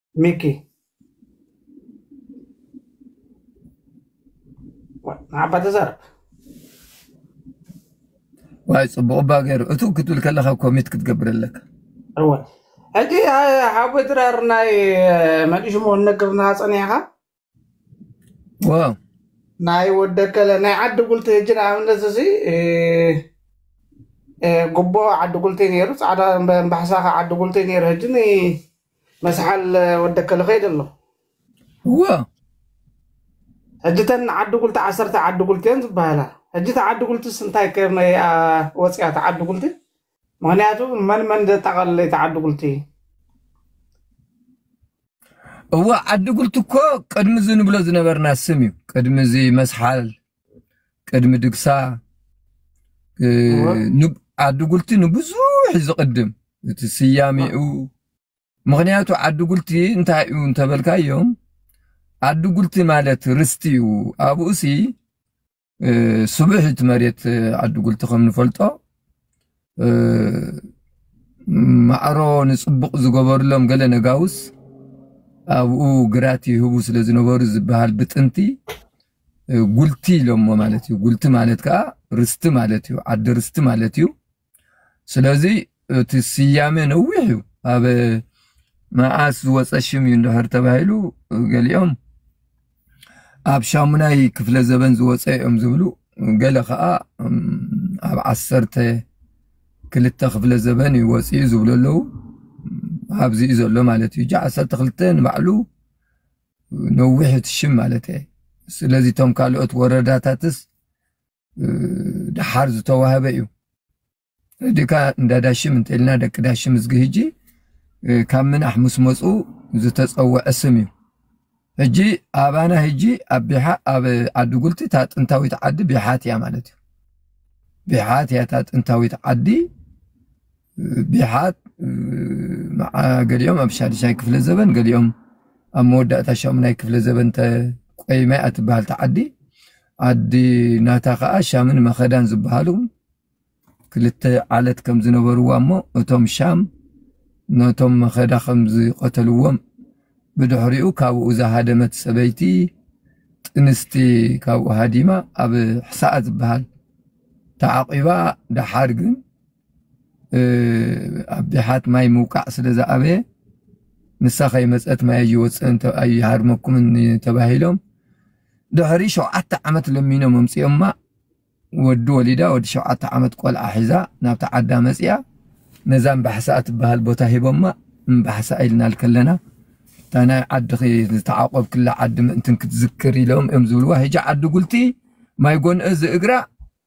ሚኪ ንዓባ ተዛረብ ዋይ ፅቡቅ እባ ገይሩ እቱ ክትብል ከለካ ኮሚት ክትገብር ኣለካ እወ ሕጂ ሓዊ ድራር ናይ መን ሽሙ እነግርና ፀኒዕካ ዋው ናይ ወደከለ ናይ ዓዲ ጉልቲ ህጂ ንኣብነት እዚ እ፣ እ፣ ጉቦ ዓዲ ጉልቲ ነይሩ ፃዕዳ እምበ- ባሕሳኸ ዓዲ ጉልቲ ነይሩ ህጂ ን መስሓል ወደከለ ከይደ ኣሎ ዋው ሕጂ ተን ዓዲ ጉልቲ ዓሰርተ ዓዲ ጉልቲ እየን ዝበሃላ ሕጂ እቲ ዓዲ ጉልቲስ እንታይ ከመይ ኣ፣ ወፂኣ እቲ ዓዲ ጉልቲ ምክንያቱ መን መን ዘጠቃለለ እቲ ዓዲ ጉልቲ እወ ዓዲ ጉልቲ እኮ ቅድሚ እዚ ንብሎ ዝነበርና ስም እዩ ቅድሚ እዚ መስሓል ቅድሚ ድግሳ ዓዲ ጉልቲ ንብዙሕ ዝቅድም እቲ ስያሜኡ ምክንያቱ ዓዲ ጉልቲ እንታይ እዩ እንተበልካዮም ዓዲ ጉልቲ ማለት ርስቲ እዩ ኣብኡሲ ስቡሕ እቲ መሬት ዓዲ ጉልቲ ከም ንፈልጦ ማዕሮ ንፅቡቕ ዝገበሩሎም ገለ ነጋውስ ኣብኡ ግራት ይህቡ ስለ ዝነበሩ ዝበሃል ብጥንቲ ጉልቲ ኢሎሞ ማለት እዩ። ጉልቲ ማለት ከዓ ርስቲ ማለት እዩ፣ ዓዲ ርስቲ ማለት እዩ። ስለዚ እቲ ስያሜ ነዊሕ እዩ ኣብ መዓስ ዝወፀ ሽም እዩ እንድሕር ተባሂሉ ገሊኦም ኣብ ሻሙናይ ክፍለ ዘበን ዝወፀ እዮም ዝብሉ ገለ ከዓ ኣብ ዓሰርተ ክልተ ክፍለ ዘበን እዩ ወፅኡ ዝብሉ ኣለዉ ኣብዚ እዩ ዘሎ ማለት እዩ ዓሰርተ ክልተ ንባዕሉ ነዊሕ እቲ ሽም ማለት እየ ስለዚ እቶም ካልኦት ወረዳታትስ ደሓር ዝተዋህበ እዩ ደካ እንዳ ዳሽም እንተልና ደቂ ዳሽም እዝጊ ህጂ ካብ ምናሕ ምስ መፁ ዝተፀወዐ ስም እዩ ህጂ ኣባና ህጂ ኣብ ቢሓ ኣብ ዓዲ ጉልቲ እታ ጥንታዊት ዓዲ ቢሓት እያ ማለት እዩ ቢሓት እያ እታ ጥንታዊት ዓዲ ቢሓት ገሊኦም ኣብ ሻድሻይ ክፍለ ዘበን ገሊኦም ኣብ መወዳእታ ሻሙናይ ክፍለ ዘበን ቆይማይ ኣትበሃል ተዓዲ ዓዲ ናታ ከዓ ሻምን መኸዳን ዝበሃሉ ክልተ ዓለት ከም ዝነበርዋ እሞ እቶም ሻም ነቶም መኸዳ ከም ዝቐተልዎም ብድሕሪኡ ካብኡ ዝሃደመት ሰበይቲ ጥንስቲ ካብኡ ሃዲማ ኣብ ሕሳኣ ዝበሃል ተዓቂባ ደሓር ግን ኣብ ድሓት ማይ ምውቃዕ ስለ ዝኣበየ ንሳ ከይመፀት ማይ ኣይወፅእን ኣይሃድመኩምን ተባሂሎም ድሕሪ ሸውዓተ ዓመት ለሚኖም ኣምፂኦማ ወዲ ወሊዳ ወዲ ሸውዓተ ዓመት ቆልዓ ሒዛ ናብቲ ዓዳ መፅያ ነዛ እምባሕሳ እትበሃል ቦታ ሂቦማ እምባሕሳ ኢልናል ከለና እታ ናይ ዓድኺ ዝተዓቆብክላ ዓዲ ምእንትን ክትዝክር ኢሎም እዮም ዝብልዋ ሕጂ ዓዲ ጉልቲ ማይ ጎንእ ዝእግራ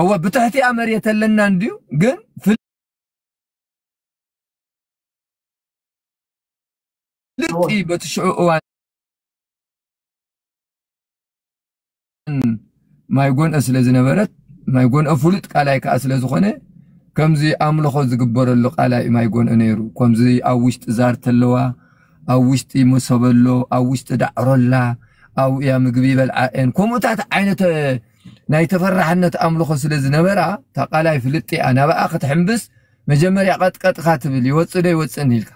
እወ ብትሕቲኣ መሬት ኣለና እንድዩ ግን ፍልጥ በቲ ሽዑ እዋን ማይ ጎንኦ ስለ ዝነበረት ማይ ጎንኦ ፍሉጥ ቃላይ ከዓ ስለ ዝኾነ ከምዚ ኣምልኾ ዝግበረሉ ቃላይ ማይ ጎንኦ ነይሩ ከምዚ ኣብ ውሽጢ ዛርቲ ኣለዋ ኣብ ውሽጢ መሶበሎ ኣብ ውሽጢ ዳዕሮላ ኣብኡ እያ ምግቢ ይበልዓ እየን ከምኡታት ዓይነት ናይ ተፈራሕነት ኣምልኾ ስለ ዝነበራ እታ ቃላይ ፍልጥቲ እያ ናብኣ ክትሕምብስ መጀመርያ ቐጥቀጥኻ ትብል ይወፅእ ዶ ይወፅእን ኢልካ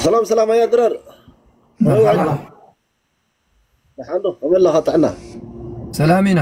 ሰላም ሰላም ኣያ ድራር መርሓባ ደሓንዶ ከመይ ኣለኻ ጥዕና ሰላም ኢና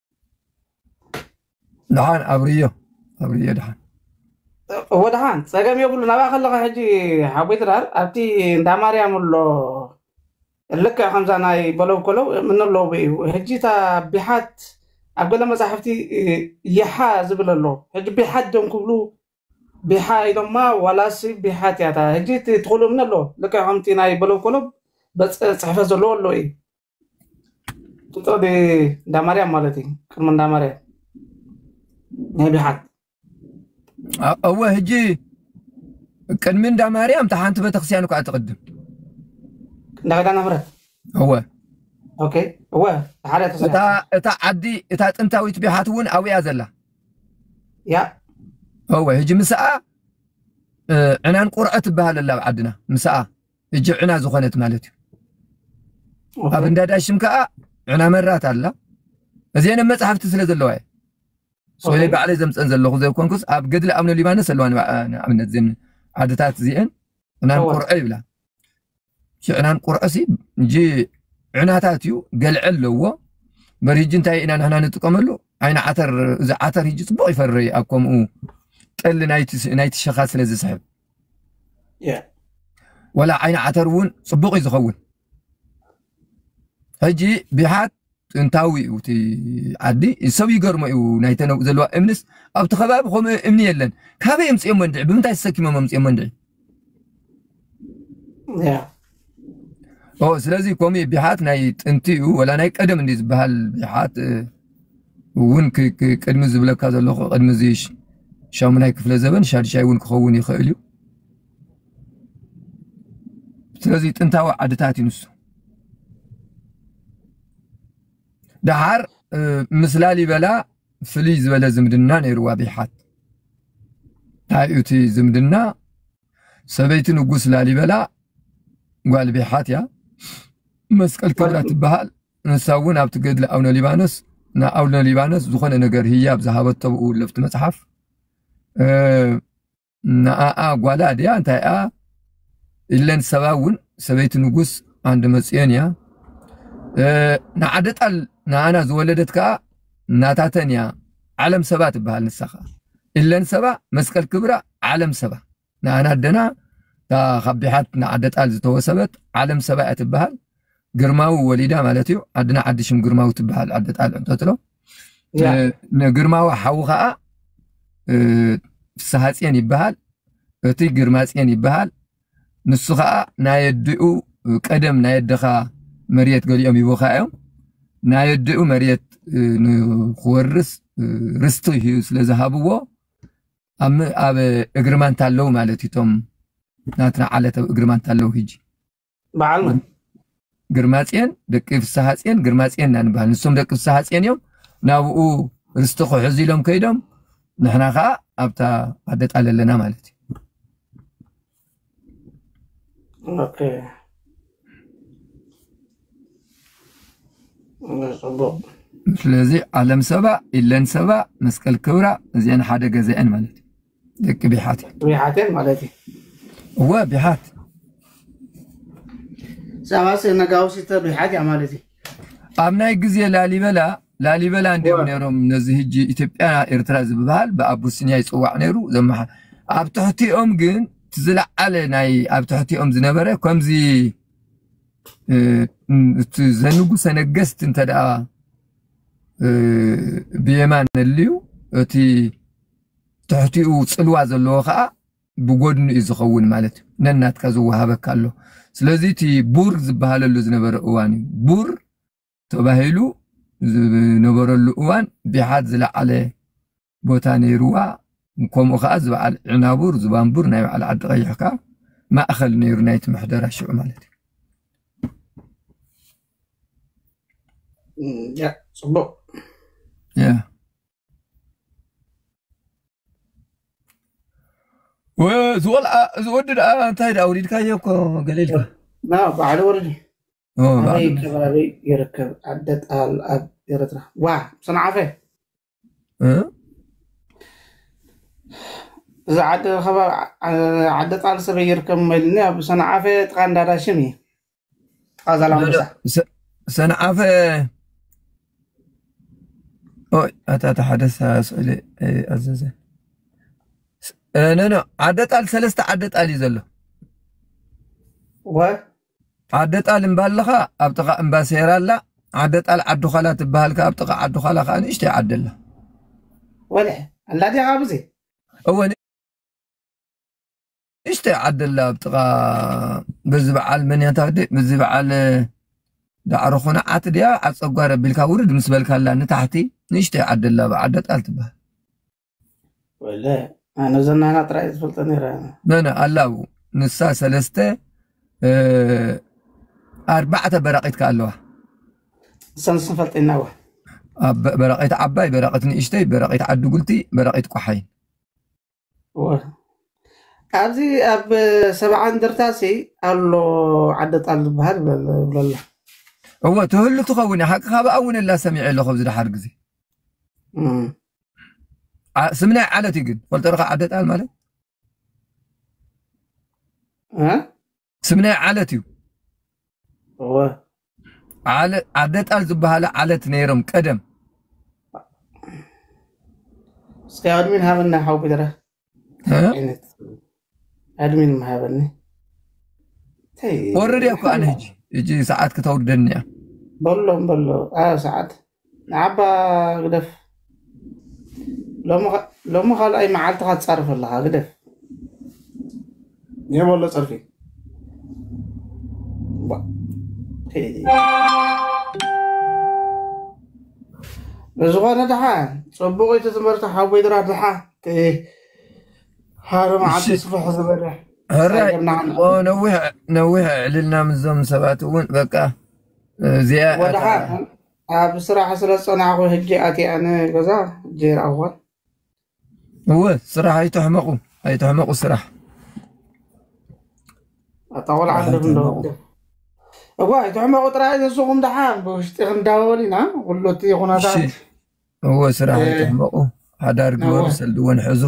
ድሓን ኣብርዮ ኣብርዮ ድሓን እወ ድሓን ፀገም የብሉ ናብኣ ከለካ ሕጂ ሓቦይ ድራር ኣብቲ እንዳ ማርያም ኣሎ ልክዕ ከምዛ ናይ በለው ከለው ምንለው እዩ ሕጂ እታ ቢሓት ኣብ ገለ መፃሕፍቲ እ፣ ይሓ ዝብል ኣሎ ሕጂ ቢሓት ዶም ክብሉ ቢሓ ኢሎማ ዋላስ ቢሓት እያ እታ ሕጂ እቲ ትኽእሉ እምኒ ኣሎ ልክዕ ከምቲ ናይ በለው ከለው በፅ- ፅሕፈት ዘለዎ ኣሎ እዩ ጡጦ ብ እንዳ ማርያም ማለት እዩ ቅድሚ እንዳ ማርያም ናይ ብሓት አ- እወ ህጂ ቅድሚ እንዳ ማርያም እታ ሓንቲ ቤተክርስትያን እኳ ትቕድም እንዳ ገዳና ምረት እወ ኦኬ እወ ሓደ እታ ተስሪሓ እታ ዓዲ እታ ጥንታዊት ቢሓት እውን ኣብያ ዘላ ያ እወ ህጂ ምስኣ እ፣ ዕናን ቁርዐ ትበሃል ኣላ ኣብ ዓድና ምስኣ እጅ ዕና ዝኾነት ማለት እዩ ኣብ እንዳዳሽም ከዓ ዕና መራት ኣላ እዚአን መፅሓፍቲ ስለ ዘለዋ እየ ሰለ ባዕለይ ዘምፀን ዘለኹ ዘይኮንኩስ ኣብ ገድሊ ኣብነ ሊባኖስ ኣለዋ ንኣብነት ዜን ዓድታት እዚአን ዕናን ቁርዐ ይብላ ዕናን ቁርዐ ሲ እጂ ዕናታት እዩ ገልዐ ኣለዎ በር ህጂ እንታይ ኢና ንሕና ንጥቀመሉ ዓይነ ዓተር እዚ ዓተር ህጂ ፅቡቅ ይፈርይ ኣብ ከምኡ ጠሊ ናይቲ ሸኻ ስለ ዝስሕብ ወላ ዓይኒ ዓተር እውን ፅቡቕ እዩ ዝኸውን ሕጂ ቢሓት ጥንታዊ እዩ እቲ ዓዲ ሰብ ይገርሞ እዩ ናይተ ዘለዋ እምኒስ ኣብቲ ከባቢ ከምኡ እምኒ የለን ካበይ የምፅኦሞ እንድዒ ብምንታይ ተሰኪሞም ኣምፅኦሞ እንድዒ ኦ ስለዚ ከምኡ ቢሓት ናይ ጥንቲ እዩ ወላ ናይ ቀደም እንዲ ዝበሃል ቢሓት እውን ቅድሚ ዝብለካ ዘለኹ ቅድሚ እዚ ሻሙናይ ክፍለ ዘበን ሻድሻይ እውን ክኸውን ይኽእል እዩ ስለዚ ጥንታዊ ዓድታት እዩ ንሱ ደሓር ምስ ላሊበላ ፍልይ ዝበለ ዝምድና ነይርዋ ቢሓት እንታይ እዩ እቲ ዝምድና ሰበይቲ ንጉስ ላሊበላ ጓል ቤሓት እያ መስቀል ክብራ ትበሃል ንሳ እውን ኣብቲ ገድሊ ኣቡነ ሊባኖስ ንኣቡነ ሊባኖስ ዝኾነ ነገር ህያብ ዝሃበቶ ብኡ ለፍቲ መፅሓፍ ንኣኣ ጓላ ድያ እንታይ እያ ኢለን ሰባ እውን ሰበይቲ ንጉስ ዓንዲ መፅዮን እያ ንዓደጣል ንኣና ዝወለደት ከዓ ናታተን እያ ዓለም ሰባ ትበሃል ንሳ ከዓ ኢለን ሰባ መስቀል ክብራ ዓለም ሰባ ንኣና ኣደና እታ ካብ ቢሓት ንዓደ ጣል ዝተወሰበት ዓለም ሰባ እያ ትበሃል ግርማዊ ወሊዳ ማለት እዩ ዓድና ዓዲ ሽም ግርማዊ ትበሃል ዓደ ጣል እንተትሎ ንግርማዊ ሓዊ ከዓ ፍስሃፅን ይበሃል እቲ ግርማፅን ይበሃል ንሱ ከዓ ናይ ኣዲኡ ቀደም ናይ ኣደኻ መሬት ገሊኦም ይቦካ እዮም ናይ ኣዲኡ መሬት ንክወርስ ርስቲ እዩ ስለዝሃብዎ ኣብ ኣብ እግሪ ማንታ ኣለው ማለት እዩ እቶም ናትና ዓለት ኣብ እግሪ ማንታ ኣለው ህጂ በዓል መን ግርማፅዮን ደቂ ፍስሃፅዮን ግርማፅዮን ኢና ንበሃል ንሶም ደቂ ፍስሃፅዮን እዮም ናብኡ ርስቲ ክሕዙ ኢሎም ከይዶም ንሕና ከዓ ኣብታ ኣደጣል ኣለና ማለት እዩ ኦኬ ጽቡቅ ስለዚ ዓለም ሰባ ኢለን ሰባ መስቀል ክብራ እዚአን ሓደ ገዛ እየን ማለት እዩ ደቂ ቢሓት እየን ቢሓት እየን ማለት እዩ እወ ቢሓት ሰባ ነጋውሲተ ቢሓት እያ ማለት እዩ ኣብ ናይ ግዜ ላሊበላ ላሊበላ እንዲኦም ነይሮም ነዚ ህጂ ኢትዮጵያ ኤርትራ ዝብሃል ብኣቡሲኒያ ይፅዋዕ ነይሩ ዘመሓ ኣብ ትሕቲኦም ግን ዝለዓለ ናይ ኣብ ትሕቲኦም ዝነበረ ከምዚ እቲ ዘንጉሰ ነገስት እንተ ደኣ ብየማን ነልዩ እቲ ትሕቲኡ ፅልዋ ዘለዎ ከዓ ብጎድኑ እዩ ዝኸውን ማለት እዩ ነናትካ ዝወሃበካ ኣሎ ስለዚ እቲ ቡር ዝበሃለሉ ዝነበረ እዋን እዩ ቡር ተባሂሉ ዝነበረሉ እዋን ቢሓት ዝለዓለ ቦታ ነይርዋ ከምኡ ከዓ ዝበዓል ዕናቡር ዝባንቡር ናይ በዓል ዓዲ ቀይሕ ከዓ ማእኸል ነይሩ ናይቲ ምሕደራ ሽዑ ማለት እዩ ፅቡቅ እዚ ቆልዓ እዚ ወዲ ደኣ እንታይ ደኣ ወሊድካዮ እኮ ገሊልካ ና ባዕሉ ወለዲ ኣበይ ከባቢ ይርከብ ዓደ ጣል ኣብ ኤረትራ ዋ ሰንዓፈ እዚ ዓደ ከባቢ ዓደ ጣል ሰበይ ይርከብ ኢልኒ ኣብ ሰንዓፈ ጥቃ እንዳዳሽም እዩ ጥቃ ዛላምበሳ ሰንዓፈ ኦይ ኣታ እቲ ሓደ ስእሊ ኣዘዘ ነኖ ዓደ ጣል ሰለስተ ዓደ ጣል እዩ ዘሎ ወይ ዓደ ጣል እምባለኻ ኣብ ጥቓ እምባ ሴራ ኣላ ዓደ ጣል ዓዲ ዃላ ትበሃል ከ ኣብ ጥቓ ዓዲ ዃላ ከዓ ንእሽተይ ዓዲ ኣላ ወልሐ ኣላ ዲኻ ብዙ እወ ንእሽተይ ዓዲ ኣላ ኣብ ጥቓ በዚ በዓል መን እያ ታዲ በዚ በዓል ዳዕሮ ኾነዓት ድያ ዓፀጓር ኣቢልካ ውርድ ምስ በልካላ ንታሕቲ ንእሽተይ ዓዲ ኣላ ኣብ ዓደ ጣል ትበሃል ወለ ኣነ ዘናና ጥራይ ዝፈልጦ ነረ መነ ኣላ ኣብኡ ንሳ ሰለስተ እ፣ ኣርባዕተ በራቂት ከ ኣለዋ እሰን እሰን ፈልጠና ዋ ኣብ በራቂት ዓባይ በራቂት ንእሽተይ በራቂት ዓዲ ጉልቲ በራቂት ቆሓይ ኣብዚ ኣብ ሰብዓ እንደርታ ሲ ኣሎ ዓደ ጣል ዝበሃል ብለላ እወ ትህሉ ትኸውን እያ ሓቂ ካብኣ እውን እላ ሰሚዐ ኣለኹ ኣብዚ ድሓር ግዜ ስም ናይ ዓለት እዩ ግን ፈልጦ ርካ ዓደ ጣል ማለት ስም ናይ ዓለት እዩ። እወ ዓለ- ኣደጣል ዝበሃለ ዓለት ነይሮም ቀደም እስከ ኣድሚን ሃበና ሓው ቢራ እ? ዓይነት ኣድሚን ምሃበኒ እንታይ ወርድ እኮ ኣነ ሕጂ ሕጂ ሰዓት ክተውርደኒ እያ በሎም በሎ ኣብ ሰዓት ንዓባ ግደፍ ሎሚ ካልኣይ መዓልትኻ ትፃርፍ ኣለኻ ግደፍ የበሎ ፀርፊ ብዝኾነ ድሓ ፅቡቅ እቲ ትምህርቲ ሓወይ ድራ ድሓ ሓደ መዓልቲ ስፍሕ ዝበለ ነዊሕ ዕልልና ምዞም ሰባት እውን በቃ እዚኣ ወድሓ ኣታ ኣብ ስራሕ ስለ ዝጸናሕኩ ሕጂ ኣትያ ንገዛ ሕጂ ይርኣኹዋ እወ ስራሕ ኣይተሕመቑ ኣይተሕመቑ ስራሕ ኣታ ቆልዓ ስራሕ ኣለኹም ዶ ኣይተሕመቑ እኳ ኣይትሕመቑ ጥራይ ንስኹም ድሓን ብውሽጢ ክንዳወል ኢና ኩሉ እቲ እሺ ኩነታት እወ ስራሕ እ፣ ኣይተሕመቑ ሓዳር ግበሩ ነወ ሰልዲ እውን ሕዙ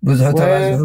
ብዙሑ ወ ተባዝሑ